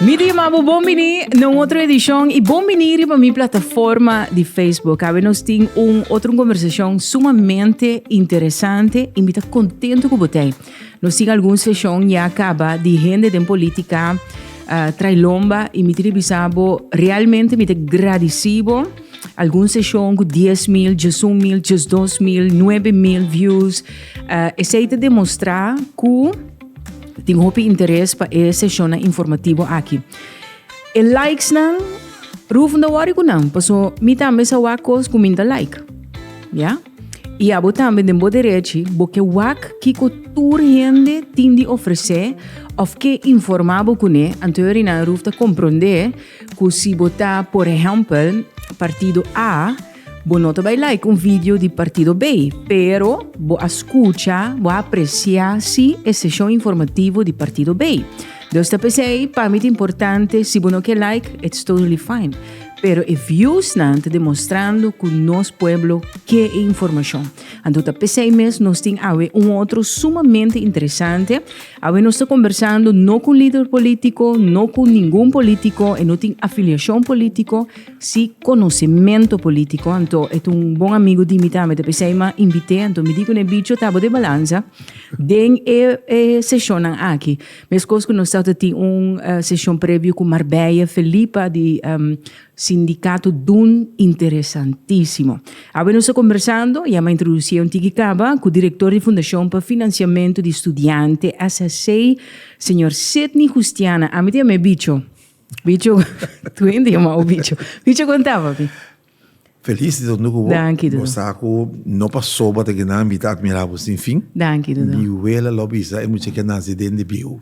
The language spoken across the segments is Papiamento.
Mi di amabo bon bini na un otro edishon i bon bini riba mi plataforma di Facebook. Awe nos tin un otro konversashon sumamente interesante i mi ta kontento ku bo tei. Nos tin algun seshon ya kaba di hende den politika uh, trai lomba i mi tin bisa bo realmente mi te gradisi bo algun seshon ku 10 mil, 10 mil, 12 mil, 9 mil views. Uh, esei te demostra ku tin hopi interes pa e seshon informativo aki. E likes nan, ruf no worry ku nan, paso mi tambe sa wa kos ku minta like. Ja? I abo tambe den bo derechi bo ke wak kiko tur hende tin di ofresé òf ke informá bo kuné, anto e Rinaan Roof ta komprondé ku si bo ta, por ehèmpel, partido A, bo no ta bai like un video di partido B, pero bo a skucha, bo a apresiá sí e seshon informativo di partido B. Dus ta p'esei, pa mi ta importante, si bo no ke like, it's totally fine. Pero e viewsnan ta demostrando cu nos pueblo ke e informacion. Anto ta pesey mes nos tin awe un otro sumamente interesante. Awe nos ta conversando no cu un lider politico, no cu ningun politico, e no tin afiliacion politico, si conocemento politico. Anto e ta un bon amigo di mi tambe, ta pesey m'a invite, anto mi di cun'e bicho ta bo de balanza den e sesionnan aki. Meskos ku nos tabata tin un seshon previo ku Marbella, Felipa di Sindikato Dun interesantisimo. Awe nos ta kombersando, ya m'a introdusí un tiki kaba, ku direktor di Fundashon pa Finansiamentu di Studiante, SSC, señor Sidney Hustiana. Ami tin am'e bicho. Bicho, tu hende yama'u bicho. Bicho konta papi. Feliz di tokntu ku bo. Danki, Dodo. Bo sa ku no pasoba te kinan mi ta admirá bo sin fin. Danki, Dodo. Mi wela lo bisa e mucha ke a nase den di bieu.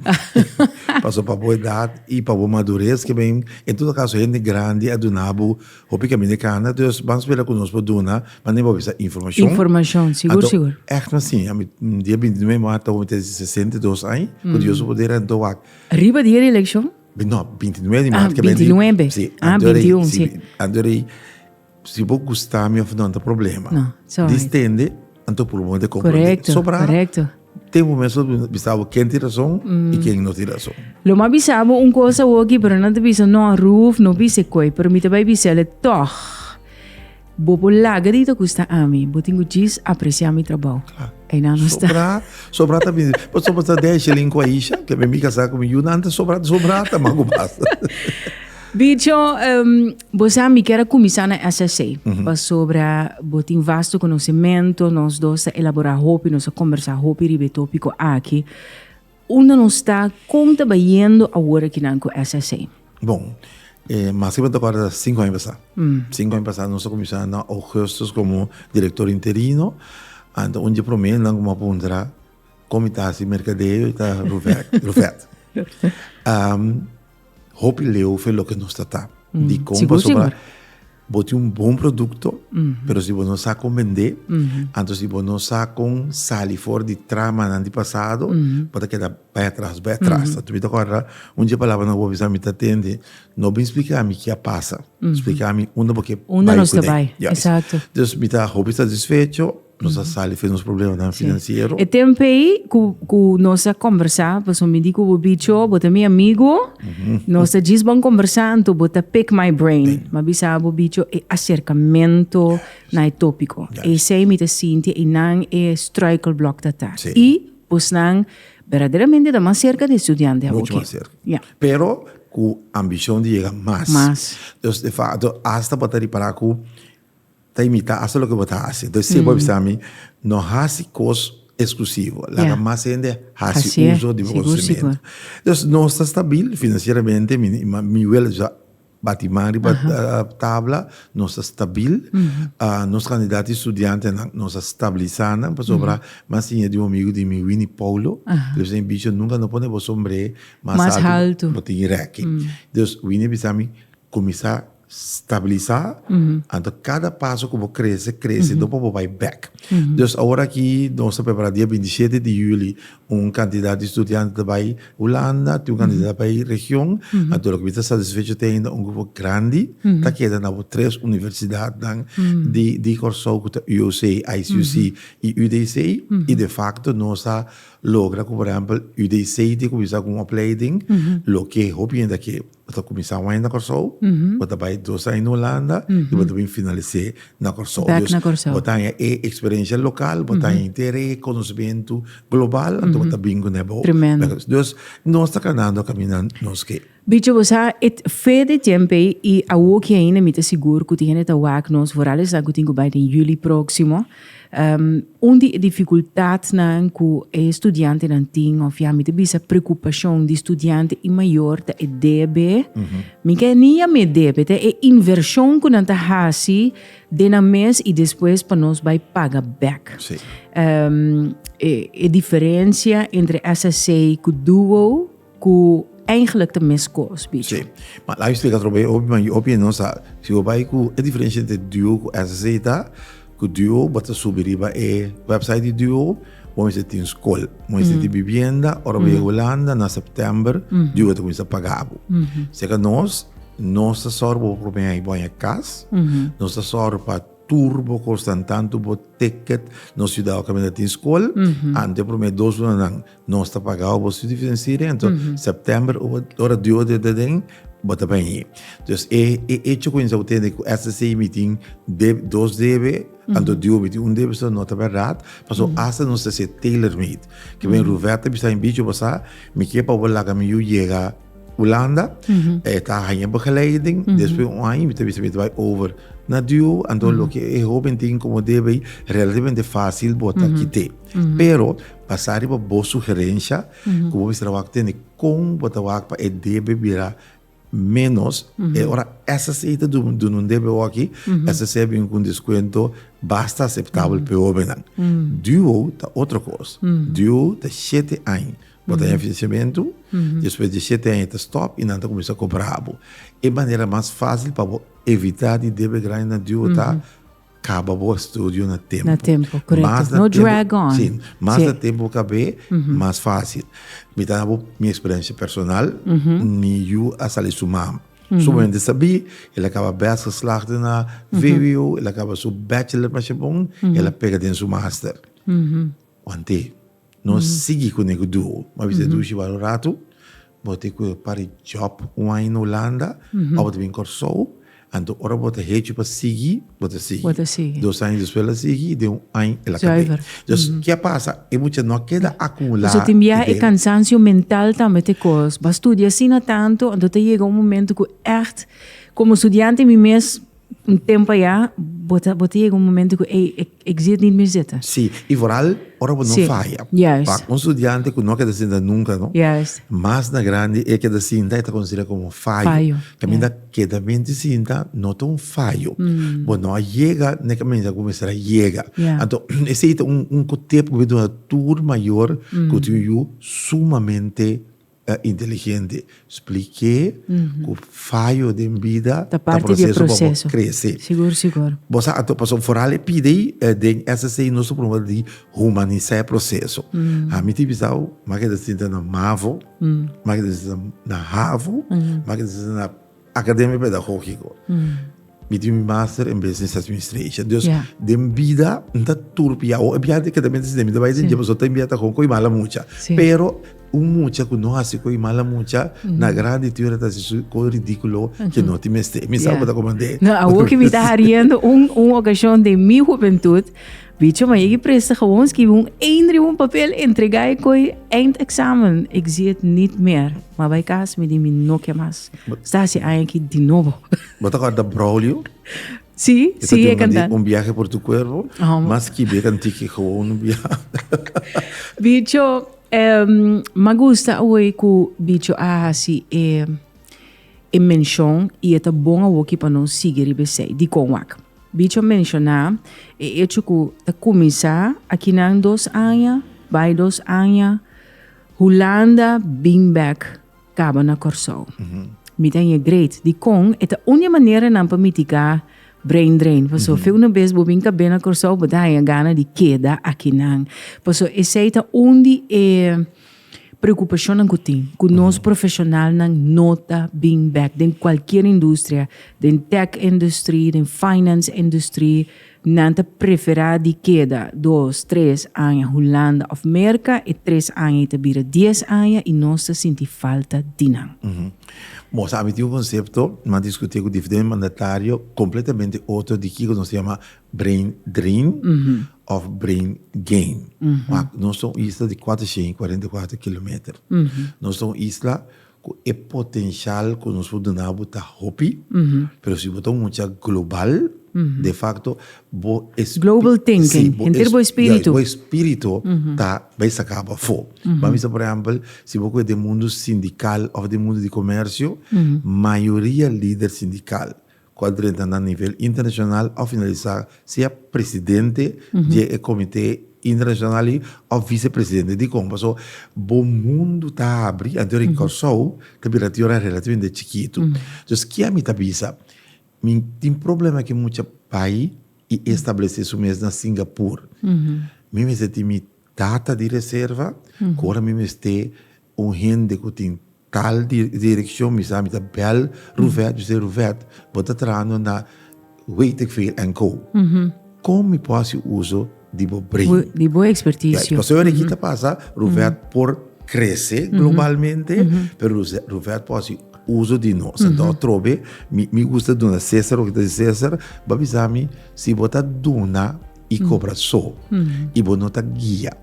Paso pa bo edat i pa bo madures ke men en todo kaso hende grandi a duna bo hopi kaminda e kana. Dus ban spera ku nos por duna mane bo a bisa informashon. Informashon, sigur, Anto, sigur. ègt mi a siña. Mi dia bintinuwe martu awor mi ta sesenta i dos aña, ku Dios su poder anto wak. Riba dia di elekshon? No, binti nuebe di maart. Ah, binti nuebe. Si. Ah, binti un, si. Anto rei, si bo gusta mi of no, no ta problema. No, it's alright. Dis tende, anto puru bo te kompra. Korekto, korekto. Tempu me so bisa bo ken tin rason i ken no tin rason. Lo mas bisa bo un kos awoki, pero nan ta bisa no, Ruth no bisa koe. Pero mi ta bai bisa el e tòg. Bo por laga di ta gusta ami. Bo tin ku djis apresia mi trabou. Kla. Einan no sta. Sobrá, sobrá ta bini. Bo soba ta dei shilling ku Aisha, ke mi mi kasá ku mi yu nan ta sobrá, ta sobrá ta mangu basta. Bicho, bo sa mi kier a kuminsá na SSC, pasobra bo tin vasto konosementu, nos dos ta elaborá hopi, nos a kombersá hopi riba e tópiko aki. Unda nos ta? Kon ta bayendo awor aki nan ku SSA? Bon, e mas ke bo ta kòrda ta sinku aña pasá. Sinku aña pasá nos a kuminsá na ougùstùs komo direktor interino. Anto un di e promé nan ku mi a puntra kon mi ta hasi merkadeo i ta Ruvèt. Hopi leu fe loke nos ta ta. Mm. Di kon Sigur, pasobra sigur. bo tin un bon produkto, pero si bo no sa kon bend'é, anto si bo no sa kon sali for di tramanan di pasado, bo ta keda bai atras, bai atras. Anto mi ta kòrda un dje palabranan ku bo a bisa mi, Tatende, no bin splika mi ke a pasa, splika mi unda bo ke bai ku ne. Unda nos ta bai, esakto. Ya. Pues mi ta hopi satisfecho. Nos a sali fes nos problemanan finansiero. E tempo ei ku, ku nos a kombersá, paso mi di ku bo bicho, bo ta mi amigu, nos ta djis bon kombersá, anto bo ta pick my brain. Mi a bisa bo bicho e aserkamentu na e tópiko. Esei mi ta sinti einan e struikelblòk ta ta. Sí. I bosnan berdaderamente ta mas serka di e studiante Mucho awoke. mas cerca. Ya. Pero cu ambicion di yega mas. Mas. Dus de facto, hasta pa ta ripará cu Ta imita hasta loke bo ta hasi. Entonces si bo a bisa mi, no hasi cos exclusivo. Laga mas hende hasi uso di bo conocimento. Entonces nos ta stabil financieramente, mi wele sa bati man riba tabla, nos ta stabil. Nos candidato di studiantenan, nos a stabilisa nan. Pasobra mas tin e di un amigo di mi, Winnie Paulo, e bisa mi, Bicho, nunca no pone bo sombre mas alto, bo tin reki. Entonces Winnie a bisa mi, cuminsa. Stabilisa, anto kada paso ku bo krese, krese do pa bo bai bek. Dus awor aki nos ta prepará dia binti shete di yüli un kantidat di studiante ta bai Hulanda, tin un kantidat ta bai region, anto loke mi ta satisfecho te ainda un grupo grandi ta keda na bo tres universidatnan di Kòrsou ku ta UOC, ICUC i UDC, i defakto nos a logra ku por ehèmpel UDC tin kuminsá ku un opleiding loke hopi hende a ke. Bo ta kuminsá un aña na Kòrsou, bo ta bai dos aña na Hulanda i bo ta bin finalis'é na Kòrsou. Bèk na Kòrsou. Bo ta haña e eksperensia lokal, bo ta haña hinter e konosementu global, anto bo ta bin ku nebo. Tremendo. Dus, nos ta kanando kaminan nos ke. Bicho, bo sa, e fe den tiempe i awoki ainda mi ta sigur ku tin hende ta wak nos, vooral esnan ku tin ku bai den juli próksimo. Un di e dificultadnan cu e studiantenan tin, of ya mi ta bisa preocupacion di studiante y mayor, ta e debe. Mi ke ni yama e debe, ta e inversion cu nan ta haci den nan mes y despues pa nos bay paga bek. Sí. E diferencia entre SSA cu Duo, Ku eingelijk ta mes kos, bicho. Sí, ma laga mi splika trompet i hopi, ma yu hopi e nos sa. Si bo bai ku e diferensha entre duo ku SSE i ta ku duo bo ta subi riba e website di duo bo mester tin skol, bo mester tin bibienda. Ora bo yega Hulanda na sèptèmber duo ta kuminsá pagá bo. Serka nos, nos ta sòru pa bo promé aña bo haña kas, nos ta sòru pa tur bo kosnan, tantu bo ticket, nos yuda bo kaminda tin skol. Ante promé dos lunanan Nos ta paga bo su diferensia renta. September ora dua di aden bo ta bai ahi. Entonces e hecho cu bo tende cu SSC mitin dos debe, anto dua mitin un debe no ta berdad, pasobra hasta nos ta haci tailor made. Ki bai Ruvet ta bisa bichi basa, mi kier pa bo laga mi yu yega Hulanda, e ta haya begeleiding, despues un aña mi ta bisa mi ta bai over na dua, anto loke e hoben tin como debe, relativamente facil bo ta kite. Pero. Basa riba bo sugerensha ku bo mester a wak tende kon bo ta wak pa e debe bira ménos. E ora SSA ta duna un debe oki, SSA a bini ku un deskuento basta aseptabel pa e hóbennan. DUO ta otro kos. DUO ta shete aña bo ta haña finansiamentu, despues di e shete aña ta stòp i nan ta kuminsá kobra bo. E manera mas fásil pa bo evitá di debe grandi na DUO ta. Kaba bo estudio na tempu. Na tempu, korekto. Mas na tempu. No drag on. Si. Mas na tempu bo kab'é, mas fásil. Mi ta na bo mi eksperensia personal, mi yu a sali su mama. Su mama inda sab'é, el a kaba bes geslaagd na vwo, el a kaba su bachelor masha bon, el a pega den su master. Want'é? No sigui kuné ku duo. Bo a bisa e dushi wak un ratu, bo tin ku para e job un aña na Hulanda, òf bo ta bin Kòrsou, anto ora bo ta hechi pa sigui, bo ta sigui. Bo ta sigui. Dos aña despues el a sigui i den un aña el a kab'é. Zuiver. Dus, ke a pasa? E mucha no a keda akumulá idenan. Pasobra tin bia e kansansio mental tambe ta e kos. Bo a studia asina tantu, anto ta yega un momento ku ègt, komo studiante mi mes, Un tempo ya bo ta yega un momento cu ey e zit nit mi zita. Sí, y vooral ora bo no faya. Pa un studiante cu no a keda sinta nunca no, mas na grandi e keda sinta e ta considera como un fayo. Caminda keda mente sinta no ta un fayo. Bo no a yega na e caminda cu bo mester a yega. Anto esey ta un cotip cu bo duna tur mayor cu tin un yu sumamente. Ta inteligente. Spliké ku fayo den bida ta proseso pa bo krese. Bo sa anto paso foral e pidi den SSC i nos ta promé di humanisá e proseso. Mi tin bisa bo, makeda sinta na mavo, makeda sinta na havo, makeda sinta na Academia Pedagogico. Mi tin mi master in Business Administration. Dus yeah. den vida n ta turpi. Awo e biaha di keda mi den vida bai den jebo so ta biaha ta kon koi mala mucha. Sí. Pero un mucha ku no hasi koi mala mucha mm -hmm. na grandi tuera ta si su koi ridículo mm -hmm. ke no ti meste. Mi yeah. sa ta komande. No, awo ki mi ta hariendo un un ocasión de mi juventud Bicho ma yegi presta gewoon skibi un één riba un papel entregá e koi eind examen ik zie et nit méér ma bai kas mi di mi no ke mas sta hasi aña aki di nobo. Bo ta kòrda Braulio? Sí, sí e kantante. Un biahe por tu kuerpo mas skibi e kantiki gewoon un biahe. Bicho ma gusta awor ku Bicho a hasi e e menshon i e ta bon awoki pa nos sigui riba esei dikon wak. Bicho menshoná e echo ku ta kuminsá akinan dos aña bai dos aña Hulanda bin bèk kaba na Kòrsou. Mi ta in e great dikon e ta un di e manera nan pa mitigá brain drain. Paso fe unu bes bo bin kab'é na Kòrsou bo ta haña gana di keda akinan. Paso esei ta un di e. Preocupacionnan cu tin, cu nos profesionalnan no ta bin bek den cualkier industria, den tech industry, den finance industry, nan ta prefera di keda dos, tres aña Hulanda of Merca, e tres aña y ta bira dies aña y nos ta sinti falta di nan. Bon, sa mi tin un concepto, mi a discuti cu diferente mandatario, completamente otro di kico nos ta yama Brain drain of brain gain. Wak, nos ta un isla di kuatrocientu i kuarenta i kuater kilometer. Nos ta un isla ku e potenshal ku nos por duna bo ta hopi, pero si bo ta un mucha global, de fakto bo espiritu. Global thinking, henter bo espiritu. Ya, bo espiritu ta bai saka bo afo. Bo a bisa, por ehèmpel, si bo kue den mundu sindikal òf den mundu di komèrsio, mayoria lider sindikal ku a drenta na nivel internashonal òf finalisá sea presidente di e komité internashonal ei òf visepresidente dikon. Paso bo mundu ta abri anto di Kòrsou ta bira tiora relativamente chikitu. Entonces ke ami ta bisa? Mi tin problema ke mucha bai i establesé su mes na Singapur. Mi mester tin mi data di reserva ku ora mi mester Un hende ku tin tal direkshon mi sa, mi ta bèl Ruvet, mi sê, Ruvet, bo ta trahando na Weetikveel en Co. Kon mi por hasi uso di bo brein? Di bo ekspertisio. Pasobra yora aki ta pasa, Ruvet por krese globalmente, pero Ruvet por hasi uso di nos. Anto atrobe mi gusta duna Cesar loke ta di Cesar, bo a bisa mi si bo ta duna. i kobra so i bo no ta guia.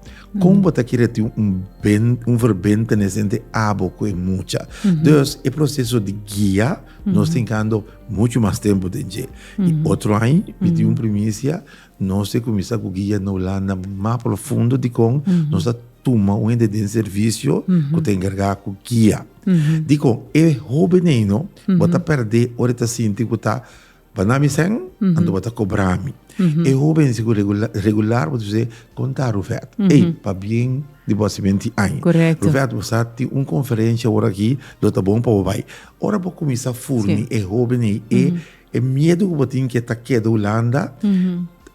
Kon bo ta kere tin un ben, un verbentenis entre abo ku e mucha? Dus e proseso di guia nos tin kando muchu mas tempu den dje. I otro aña mi tin un primisia, nos e kuminsá ku guia na Hulanda mas profundo dikon nos ta tuma un hende den servisio ku ta enkargá ku guia. Dikon e hóbennan ei no bo ta pèrdè ora e ta sinti ku ta Ba na mi sèn, anto bo ta kobra mi. E hóbenzi ku regular bo ta bis'é, Kon ta Rufèt? Ey, pabien di bo a simen tin aña. Rufèt, bo sa tin un konferensia ora aki, lo ta bon pa bo bai. Ora bo kuminsá furni e hóben ei e, e miedu ku bo tin ku e ta keda Hulanda,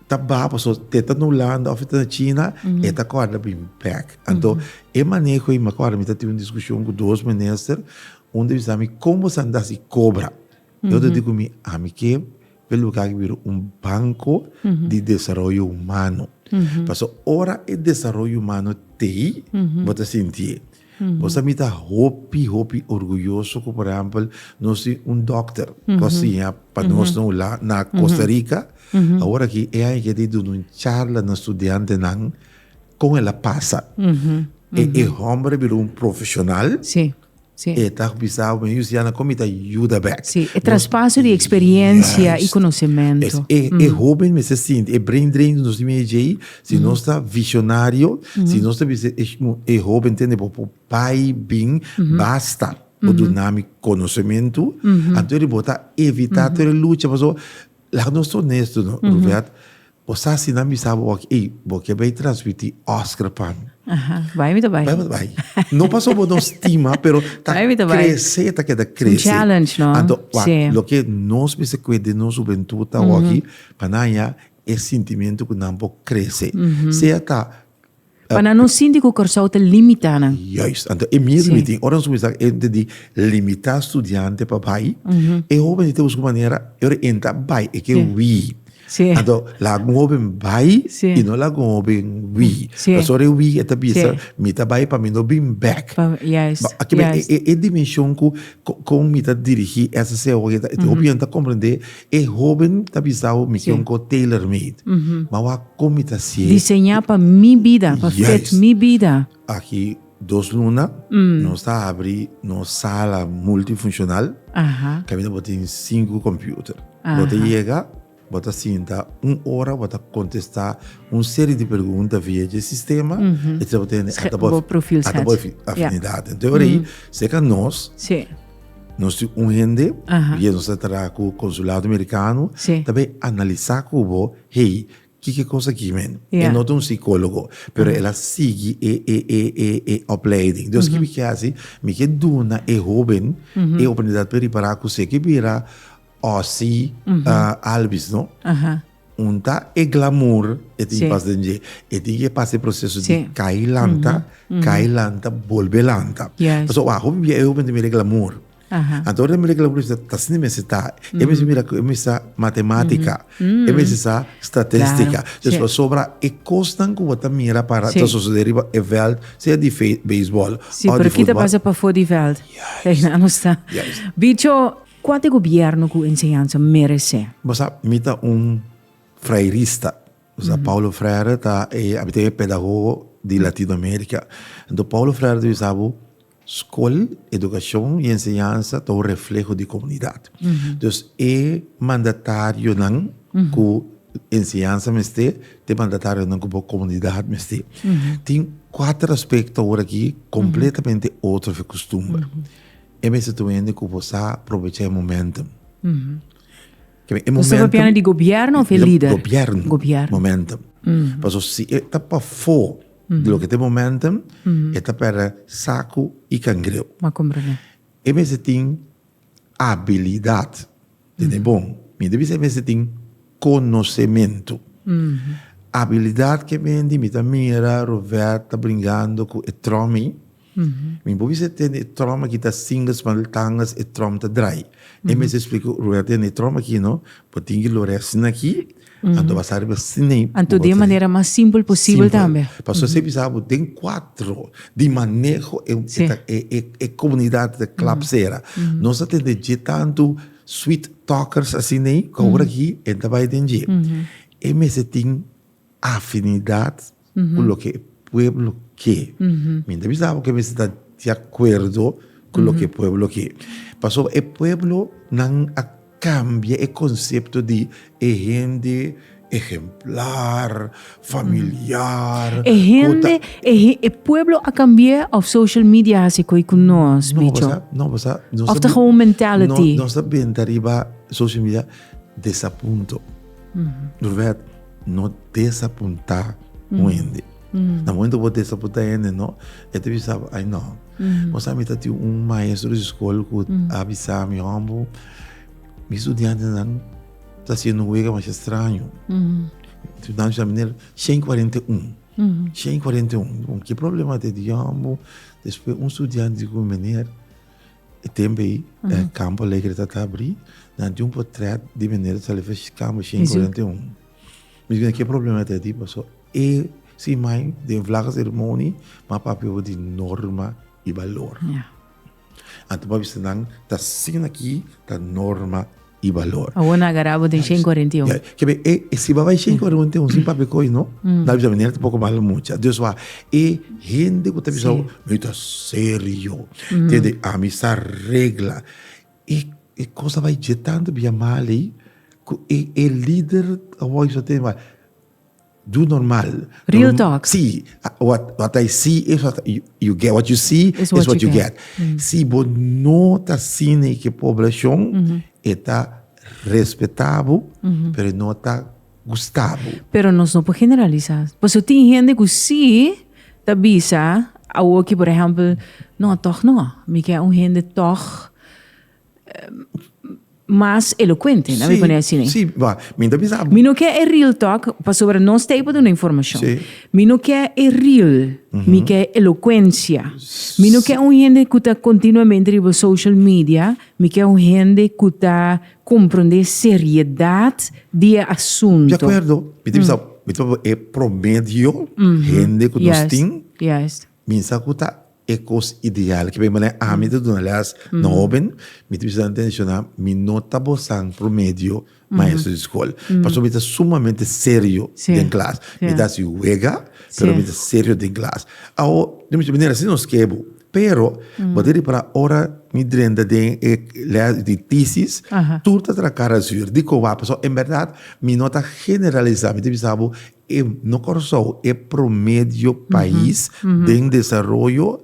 ta ba pasobra si e ta na Hulanda òf e ta na China, e ta kòrda bin bèk. Anto, e maneho ei, mi a kòrda mi ta tin un diskushon ku dos minister, un ta bisa mi, Kon bo sa nta hasi kobra? E otro di cu mi, ami ke e luga aki bira un banco di desaroyo humano. Pasobra ora e desaroyo humano tei, bo ta sinti e. Bo sa mi ta hopi, hopi orguyoso cu, por ehempel, nos tin un dokter cu a siña pa nos na un lado, na Costa Rica, awor aki e aña aki e di duna un charla na studiantenan con el a pasa. E homber a bira un profesional. Sí. E ta bisa bo, mi yusi ya na kon mi ta yuda bek. Sí, e traspaso di eksperiencia i konosementu. Es e e hoben mester sinti e brain drain di nos mei djei, si nos ta visionario, si nos ta bisa e e hoben tende bo por bai bin, basta bo duna mi konosementu, anto di bo ta evita tur e lucha, pasobra laga nos ta onesto no, Ruvet, Bo sa si nan bisa bo aki, ey, bo ke bay transmiti Oscar pa mi. Aha, bay mi ta bay. Bay mi ta bay. No paso bo no stima, pero ta Bay mi ta bay. crece, ta keda crece. Un challenge, no? Anto, wak, Sí. loke nos mester kwe den nos hubentud awor aki, pa nan haña e sentimiento ku nan por crece. Sea ta Pa nan no sinti ku Kòrsou ta limitá nan. Juist. Anto e miedu mi tin, ora nos kuminsá ku e hende di limitá studiante pa bai, e hóben di ta buska un manera, e ora e nta bai, e ke hui. Anto, laga ku un hóben bai i no laga ku un hóben hui. Pasobra ora e hui e ta bisa, mi ta bai pa mi no bin bèk. E dimenshon ku kon mi ta dirigí SCO, hopi hende ta komprendé E hoben ta bisa bo, Mi ke un kos tailor made. Ma wak kon mi ta sié. Diseñá pa mi bida, pa fit mi bida. Aki dos luna nos ta abri nos sala multifuncional, kaminda bo tin sinku computer. Bo ta yega, bo ta sinta un ora, bo ta kontestá un serie di pregunta via dje sistema, e tras bo tene, ata bo afinidad. Entonces ora ei, seka nos. Nos tin un hende, bier nos ta traha ku konsulado amerikano, ta bin analisá ku bo, hey, kiko kos aki men? E no ta un sikólogo, pero el a sigui e, e, e, e, e opleiding. Dus kiko mi ke hasi? Mi ke duna e hóben e oportunidat pa ripará kusé ku bira Ozzie Albies, no? Un ta e glamour e tin pas den dje. E tin ke pasa e proseso di kai lanta, kai lanta, bolbe lanta. Pasobra ora hopi bia e hopi ta mira e glamour. Anto ora e ta mira e glamour e bisa, ta asina mes e ta. E mester mira ku e mes sa matematika, e mester sa statistika. Des pasobra e kosnan ku bo ta mira para ta sosodé riba e vèlt, sea di beisbòl, ò di futbòl. Pero ki ta pasa pafó di vèlt? Yais. Ei nan nos ta. Yais. Bicho, Kuat e gobièrnu ku enseñansa meresé? Bo sa, mi ta un Freirista. Bo sa, Paulo Freire ta e, a bitin e pedagogo di Latinoamérika. Enton, Paulo Freire ta bisa bo, Skol, edukashon i enseñansa ta un refleho di komunidat. Dus, e mandatarionan ku enseñansa mester, ta e mandatarionan ku bo komunidat mester. Tin kuater aspekto awor aki kompletamente otro, fe, kustumber. E mester tur hende ku por sa provecha e momentum. Bo sta papiando di gobièrnu òf e lider? Gobièrnu. Momentum. Paso si e ta pafó di loke ta e momentum, e ta pèrdè saku i kangreu. M'a komprendé. E mester tin abilidat. Tene bon. Mi ta bisa e mester tin konosementu. Abilidat ke bini, mi ta mira Rover ta bringando ku e tròmi. Mi bo bisa tende e trom aki ta sin lo spanol tangas e trom ta drai. E mester explica Roel tende e trom aki no, bo tin ki lo res na aki, anto basta riba sin na aki. Anto di e manera mas simpel posibel tambe. Simpel. Pasobra esei bisa bo den cuatro di maneho e Si. e comunidad ta clap sera. Nos ta tende dje tanto sweet talkers asina ei cu awor aki e ta bay den dje. E mester tin. afinidad cu loke e pueblo ke. Mi no ta bisa abo ke mester ta di acuerdo cu loke e pueblo ke. Pasobra e pueblo nan a cambia e concepto di e hende ehemplar, familiar. E hende, e pueblo a cambia of social media haci coe cu nos, Bicho? No, pasa, no, pasa. Of ta gewoon mentality. No, nos ta benta riba social media desapunto. Roberto. no desapuntá un hende. Na momento bo desapuntá un hende, no, e ta bisa bo, ay no. Bo sa mita tin un maestro di skol ku a bisa mi, Humble, mi studiantenan ta hasiendo un wega masha straño. Estudiante sa manera, shen kuarenta i un. Shen kuarenta i un. Bo, ke problema ta hei? Di, Humble, despues un studiante di ku mi, Meneer E tempo ei, e Campo Alegre ta ta abrí, nan tin un potret di Benedicto Salefesh Campo, shen kuarenta i un. Meskos na ke problema ta di, pasó e su imagen den vlaga seremoni, ma papia bo di norma i balor. Anto bo a bisa nan ta siña aki ta norma. y valor. Awor na agará bo den shen cuarenta y un. Kebe e si bo bay shen cuarenta y un sin papia coy no, na bisa bo nerte poco malo mucha. Dios wak e hende cu ta bisa bo mi ta serio, tende ami sa regla. E e cosa bay dje tanto bia mal ey cu e e lider awor a bisa tende bay. Doe normal. Real talk. Si, what I see is what you get. What you see is what you get. Si bo no ta sina e ke poblashon, e ta respetá bo, pero e no ta gustá bo. Pero nos no por generalisá. Pasobra tin hende ku sí ta bisa awoki, por ehèmpel, no, tòg no. Mi ke un hende tòg. mas elocuente, nan mi pone asina. Sí, sí, wacht, mi ta bisa. Mi no ke e real talk, pasobra nos ta ei pa duna informashon. Sí. Mi no ke e real, mi ke elokuensia. Mi no ke un hende ku ta kontinuamente riba social media, mi ke un hende ku ta komprondé seriedat di e asunto. De akuerdo, mi ta bisa, mi ta e promedio hende ku nos tin, Yes, yes. Misa ku ta E kos ideal, ke manera ami ta duna lès na hóben, mi ta bisa nan tene shona, mi no ta bosan promedio maestro di skol. Pasobra mi ta sumamente serio den klas. Mi ta hasi wega, pero mi ta serio den klas. Awo, mi ta manera así nos ke bo. Pero, bo ta repará ora mi drenta den e lès di tisis, tur ta traha cara sur. Dikon wak? Pasobra en bèrdat mi no ta generalisá. Mi ta bisa bo E no Kòrsou e promedio pais den desaroyo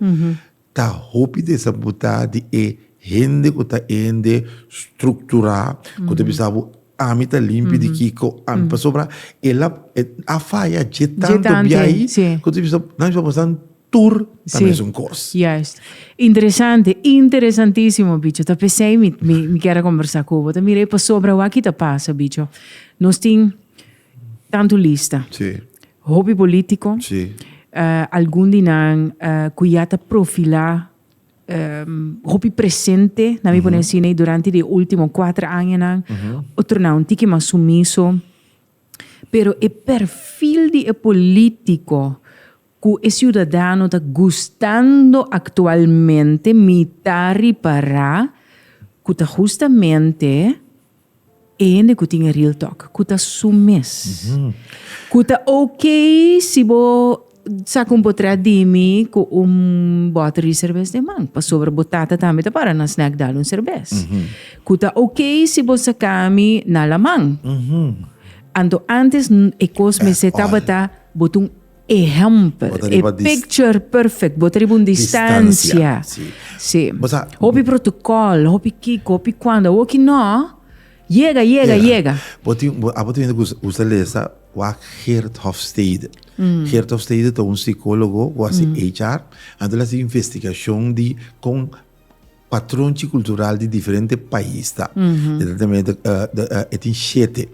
ta hopi desabutá di e hende ku ta hende strukturá ku ta bisa bo ami ta limpi di kiko ami pasobra e la a faya dje tantu bia'i ku ta bisa nan bisa bo pasan tur na mesun kos. Juist. Interesante, interesantísimo bicho. Ta p'esei mi kier a kombersá ku bo. Ta mira e pasobra wak i ta pasa bicho. Nos tin Tantu lista. Hopi politico. Algun di nan cu ya ta profila hopi presente, na mi pone asina y durante di e ultimo cuatro añanan, otronan un tiki mas sumiso. Pero e perfil di e politico Cu e ciudadano ta gustando actualmente mi ta ripara cu ta justamente e hende cu tin e real talk, cu ta su mes. Cu ta ok si bo sa con bo trae di mi cu un bottle di cervez den man, pasobra bo tata tambe ta para na snack dal un cervez. Cu ta ok si bo saca mi na laman. Anto antes e cos mester tabata bo ta un. E hèmpel, Bo ta riba e dis- picture perfect, bo ta riba un distancia. Distancia, Sí. sí. Bo sa- Hopi protocol, hopi kiko, hopi cuando, awor ki no, yega, yega, yega. Bo tin, bo, abo tin hende ku us- us ta lesa wa Geert Hofstede. Geert Hofstede ta un psicólogo ku hasi HR, anto el hasi investigashon di kon patronchi kultural di diferente pais ta. E ta tambe e tin shete.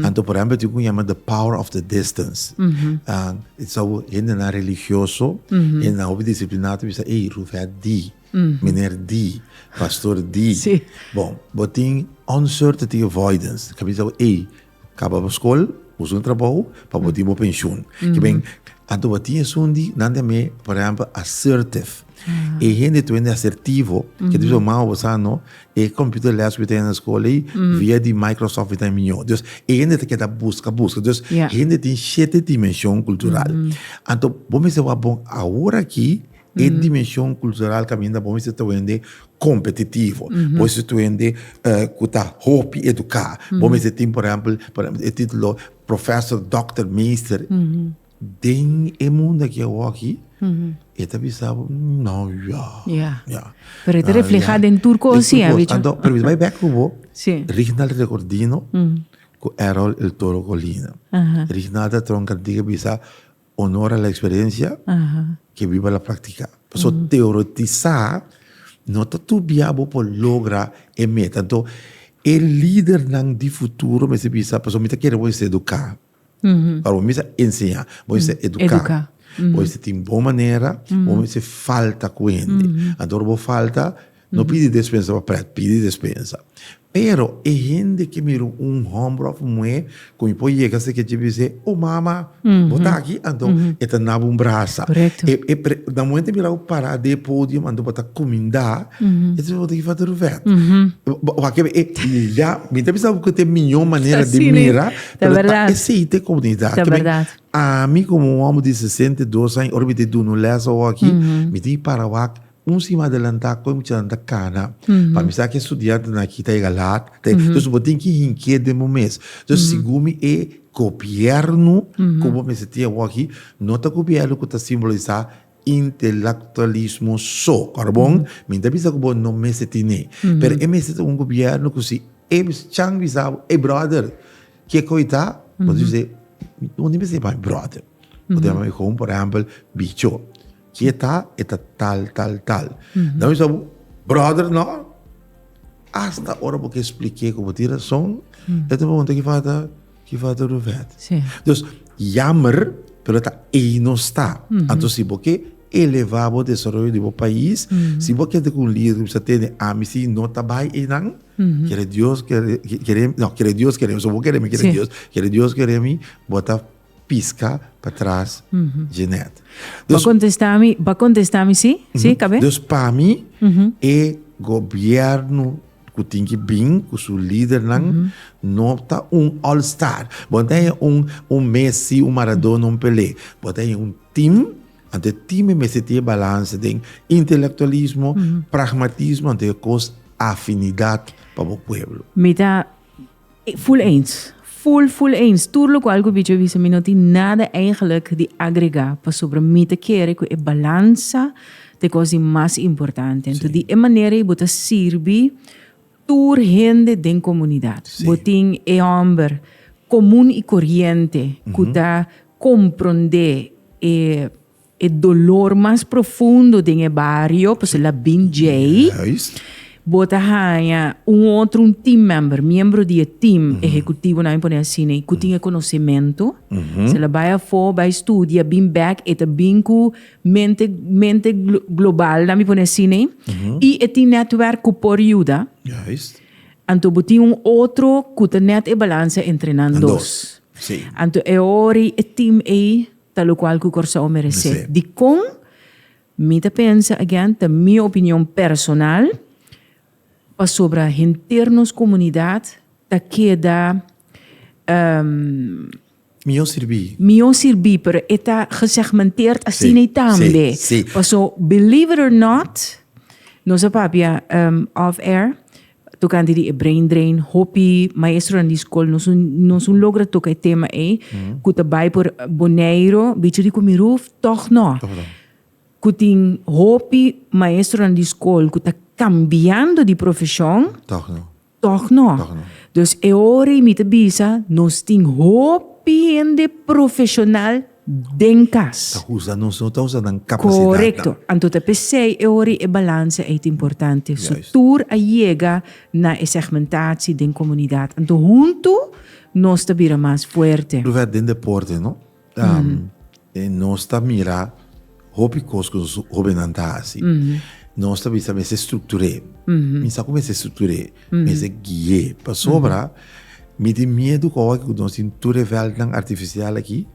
Anto por ehèmpel e tin un ku yama The Power of the Distance. E ta sabu hendenan religioso, hendenan hopi disipliná ta bisa, ey, rufèt di, miner di, pastor di. Bon, bo tin onsoerte tin avoidance. Bo ta bisa, ey, Kaba bo skol, busca un trabou pa bo tin bo penshun. Ke ben, anto bo a tin esun di, nan den me, por ehempel, assertive. E hende toende asertivo, ke ta bisa bo, mama, bo sa no, e computer les ku bo ta haya na skol ei, via di Microsoft bo ta haya mió. Dus, e hende ta keda busca, busca. Dus, hende tin shete dimenshon kultural. Anto, bo mester wak bon awor aki. E dimenshon kultural kaminda bo mester ta wende kompetitivo, bo mester ta wende ku ta hopi eduká, bo mester tin por ehèmpel e título profèsor, dòkter, meester. Den e mundu aki awor aki e ta bisa bo, nò yò. Pero e ta reflehá den tur kos si. Anto, permisó bai bèk ku bo, Rignal Recordino ku Erol El Toro Colina. Rignal ta tronka diga bisa, onora la experiencia ke biba la practica. Paso teoretisa no ta tur bia bo por logra e meta. Anto e lidernan di futuro mester bisa, paso mi ta kere bo esta educa. Ora bo mester enseña, bo mester educa. Bo mester tin bon manera, bo mester falta cu hende. Anto ora bo falta. No pidi despensa pa prèt, pidi despensa. Pero e hende ke mir'é un hòmber òf un muhé ku mi por yega sta kier bis'é, O mama, bo ta aki? Anto e ta naba un brasa. Na momente e mira bo pará den e podium, anto bo ta kumindá, e ta biba bo ta gifa tur vèt. Wak ebe, ya mi ta bisa bo ku ta e mihó manera di mira, pero ta esei ta e komunidat. Ami komo un hòmber di sesenta i dos aña, ora mi ta duna un lèsa oki, mi tin pará wak. Un sima adelantá koe muchanan ta kana, pa mi sa ke studiantenan aki ta yega laat, ta yega, entonces bo tin ki hink'é den bo mes. Entonces sigun mi e gobièrnu ku bo mester tin awor aki no ta gobièrnu ku ta simbolisá intelektualismo so, ora bon mi ta bisa ku bo no mester tin'é, pero e mester ta un gobièrnu ku si e chan bisa bo, ey bròder ke koe ta? Bo ta bisa e, bo no tin mester yama mi bròder, bo ta yama mi gou por ehèmpel bicho. Si e ta, e ta tal, tal, tal. Dan mi sabi, bròder, nò. Asta ora bo ke splik'é ku bo tin rason, e ta pregunta, Ki fata, ki fata Ruvèt? Dus, yammer, pero ta ei nos ta. Anto si bo ke elevá bo desaroyo di bo pais, si bo kende ku un lider ku bisa tene amisí, no ta bai einan. Kere Dios kere, kere, nò, kere Dios kere mi, so bo kere mi, kere Dios, kere Dios kere mi, bo ta. piska pa tras Jeanette. Bo a contesta mi, bo a contesta mi si? Si, cabe? Dus pa mi e gobierno cu tin ki bin cu su lidernan no ta un all star. Bo no ta haya un un Messi, un Maradona, un Pelé. Bo ta haya un team, anto e team e mester tin e balance den intelectualismo, pragmatismo anto e cos afinidad pa bo pueblo. Mi ta Full eens. Full full eens. Tur lokual ku Bicho a bisa mi no tin nada eigenlik di agregá pasobra mi ta kere ku e balansa ta e kos di mas importante. Anto di e manera ei bo ta sirbi tur hende den komunidat. Bo tin e hòmber komun i koriente ku ta komprondé e. E dolor mas profundo den e bario pues el a bin djei. Bo ta haña un otro, un team member, miembro di e team ehecutivo, nan mi pone asina, cu tin e conocemento. So el a bai afo, bai studia, bin back, e ta bin cu mente, mente global, nan mi pone asina, y e tin netwerk cu por yuda. Anto bo tin un otro cu ta net e balansa entre nan dos. Anto e ora ei e team ei. Ta locual cu Corsou merece. Dicon? Mi ta pensa, again, ta mi opinion personal, pasobra henter nos comunidad ta keda ehm. Mihor sirbi. Mihor sirbi, pero e ta gesegmenteerd asiney tambe. Paso, believe it or not, nos a papia ehm off air, Tocante di e brain drain, hopi maestronan di school nos un, nos un logra toca e tema ei, cu ta bai por Boneiro, bichi rico mi roof, toch no. Toch no. Cu tin hopi maestronan di school cu ta cambiando di profesion. Toch no. Toch no. Toch no. Dus e ora ei mi ta bisa, nos tin hopi hende profesional den cas. Ta usa nos, no ta usa nan capacidad. Corecto. Anto ta pesey e ora y e balance ey ta importante. So tur a yega na e segmentatie den comunidad. Anto hunto nos ta bira mas fuerte. Lo verd den deporte no. Nos ta mira. Hopi cos cu nos hobennan ta haci, nos ta bisa mester structur'e. Mi sa cu mester structur'e, mester gui'e. Pasobra mi tin miedu cu awor cu nos tin tur e veldnan artificial aki,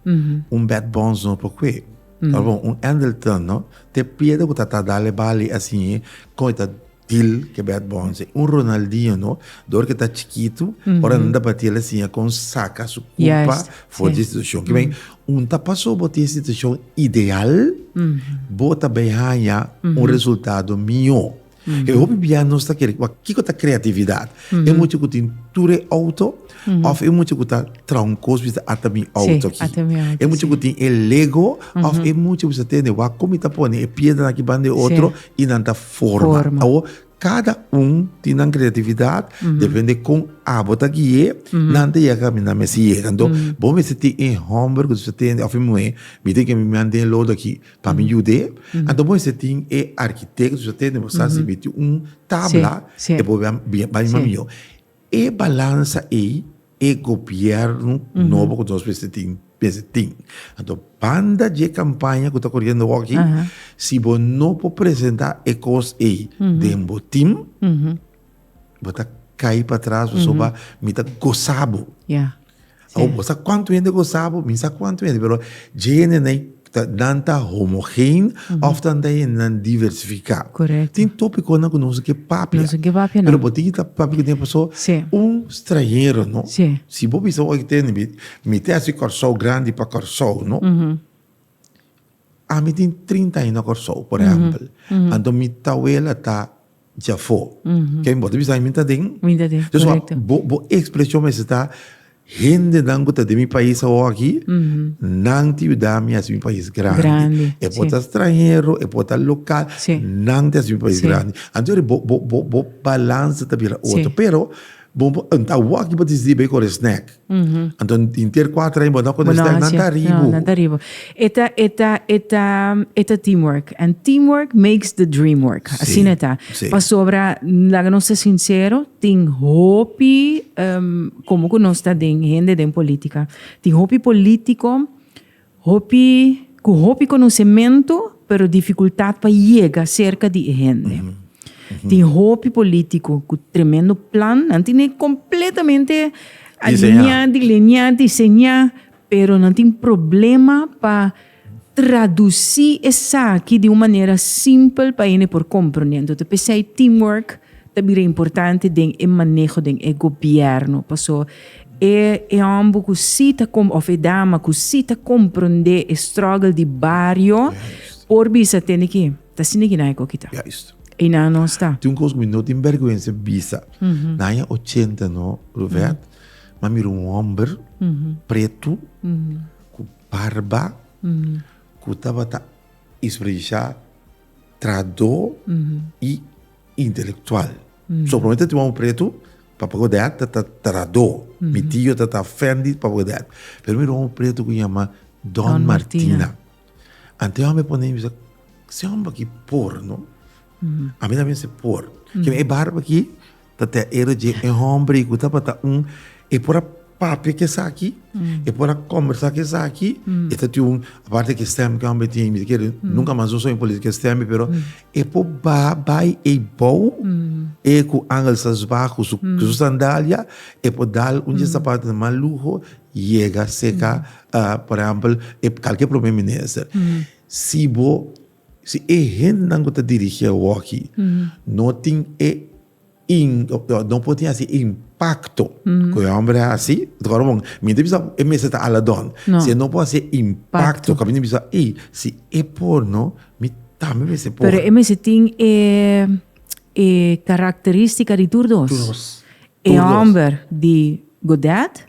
un Bert Bonds no por cue. Tabata bon, un Andelton no, te piedra cu ta tabata dal e bali asin, con e ta Til ke bèt bon se un Ronaldinho no dor ke ta chikitu ora nan ta bati el a siña kon saka su kulpa for di institushon ke men un ta paso bo tin institushon ideal bo ta bai haña un resultado mihó e hopi bia nos ta kere kiko ta kreatividat e mucha ku tin tur e outo. Of e mucha ku ta tronkos bisa ata mi outo aki. E mucha ku tin e lego of e mucha bisa tende wak kon mi ta pone e piedra aki banda e otro i nan ta forma. Awo kada un tin nan kreatividat depende kon abo ta guie nan ta yega kaba mi nan mester yega. Anto bo mester tin e homber ku ta tende of e muhe mi tin ke mi mian den e lodo aki pa mi yude. Anto bo mester tin e arkitekt ku ta tende bo sa si mi tin un tabla e bo bai mian miyo. E balansa ei e gobierno nobo ku nos mester tin mester tin. Anto banda dje kampaña ku ta koriendo aki si bo no por presenta e kos ei den bo tim bo ta kai patras pasobra mi ta gosa bo. Awo bo sa kuantu hende ku sa bo? Mi sa kuantu hende, pero dje hendenan nan ta homogen òf nan ta hendenan diversifiká. Tin tópikonan ku no kusnan ke papia, pero bo tin kita papia ku den paso un stranhero no, si bo bisa oy tende mi tèst di Kòrsou grandi pa Kòrsou no. Ami tin trinta aña na Kòrsou, por ehèmpel. Anto mi tawela ta djafó. Ke bo ta bisa mi? Mi ta den. Mi ta den, korekto. Pasobra bo, bo ekspreshon mester ta, Hendenan ku ta den mi pais awor aki, nan tin yuda mi hasi mi pais grandi. Grandi, si. E por ta stranhero, e por ta lokal, nan tin hasi mi pais grandi. Si. Anto yori bo, bo, bo, bo balansa ta bira otro. Si. Pero bo, bo, awor aki bo ta disidí bai kore snèk. Anto inter kuater aña bo ta konta esaki nan ta ribu. Nan ta ribu. E ta e ta e ta e ta team work. And team work makes the dream work. Asina e ta. Pasobra laga nos ta sinsero tin hopi komo ku nos ta den hende den politika tin hopi politiko Hopi cu hopi conocemento pero dificultad pa yega cerca di e hende. Tin hopi politico cu tremendo plan, nan tin e completamente alinea, dilinea, diseña, pero nan tin problema pa traduci esaki di un manera simpel pa hende por comprende. Entonces, pesey teamwork Ta bira importante den e maneho den e gobierno, paso e e homber cu si ta com of e dama cu si ta comprende e struggle di bario por bisa tende ki ta sina ki naye coki ta. Juist. Y nan no sta. Tin un cos cu mi no tin berguensa bisa. Na aña ochenta no, Ruvet, mi a mira un homber pretu cu barba cu tabata isprayisha trahador y. Intelectual. So prome ta tumba un pretu pa pago de art ta Tarado. Mi tio ta ta Fendi pa pago de art. Pero mi roba un pretu cu yama Don Martina. Ante e hombre a pone mi bisa, si hombre aki por no? A mi ta mester por. Kiba e barba aki ta te era dje e hombre cu tabata un, e por a papia cu esaki, e por a combersa cu esaki, e ta tin un, aparte cu e stem cu e homber tin, mi ta kere, nunca mas no soña por lisa cu e stem mi, pero e por ba bay e bou, e cu angelzas ba, cu su sandalia, e por dal un di e sapato di mas luho, yega seca, por ehempel, e calkier prome minister. Si bo, si e hendenan cu ta dirigi awoki no tin e. no por tin hasi impakto ku e hòmber a hasi. Mi ta bisa e mester ta ala dònt. Si e no por hasi e impakto ku a minte bisa, ei, si e por no, mi tambe mester por. Pero e mester tin e e karakteristika di tur dos. Tur dos. E hòmber di. Godet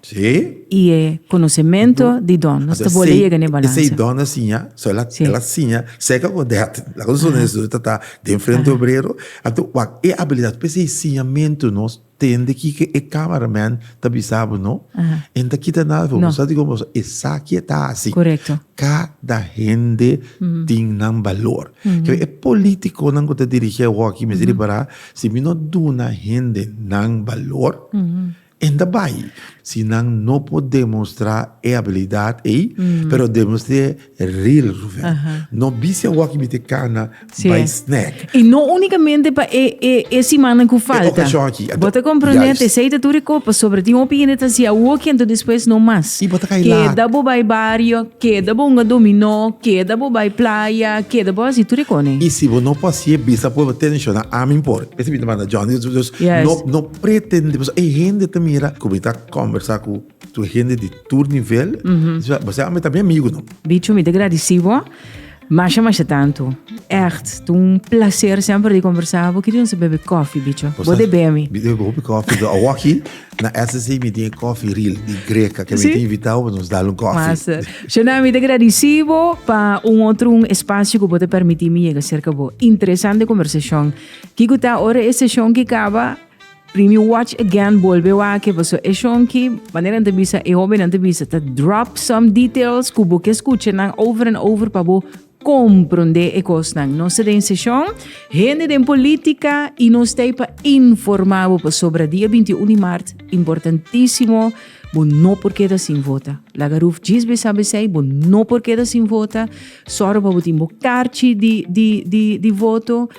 y e conocementu di Don. Nos ta bole yega na e balance. Esey Don a siña, so el a siña seca Godet. Laga nos pone eso, ta ta den frente e obrero. Anto wak, e abilidad pa esey siñamentu nos tende kico e camera man ta bisa bo no, e n'ta kita nada for bo. Soti como esaki e ta haci. Cada hende tin nan balor. Kico e politiconan cu ta dirigi e hockey mester di para. Si mi no duna hende nan balor, e ta bai. Si nan no por demostrá e habilidat ei, pero demostr'é real Ruven. No bisha awòk'i mi ta kana bai snèk. I no únikamente pa e, e, e simannan ku falta. E okashon aki. Bo ta komprondé at esei ta tur e kopas, pasobra tin hopi hende ta hasi awòk'i anto despues no mas. I bo ta kai lat. Keda bo bai bario. Keda bo hunga dominó, keda bo bai playa, keda bo hasi tur e kone. I si bo no por hasi e bisa por bo tenshona ami por. Esei mi ta manda Johnny. Dus no no pretende pasobra e hende ta mira ku mi ta kombersá ku tur hende di tur nivel. Bo siña ami ta mi amigu no. Bicho mi ta gradisí bo. Masha masha tanto. Echt, ta un placer semper di conversa cu bo. Kico nos a bebe coffee, bicho? Bo de bebe mi. Mi bebe hopi coffee do. Awoki na SSC mi tin e coffee real di Greca ke mi tin invita bo pa nos dal un coffee. Massa. Shana, mi ta gradici bo pa un otro un espacio cu bo ta permiti mi yega cerca bo. Interesante conversacion. Kico ta ora e session ki caba? Primi e Watch Again bolbe wak paso e shonki manera ta bisa e hobenan ta bisa ta drop some details ku bo ke skucha nan over en over pa bo kompronde e kosnan. Nos ta den seshon hende den polítika i nos ta pa informá bo pasobra dia 21 di mart importantísimo bo no por keda sin vota. Laga Ruf djis bo e sa besei bo no por keda sin vota. Sòru pa bo tin bo karchi di di di di voto.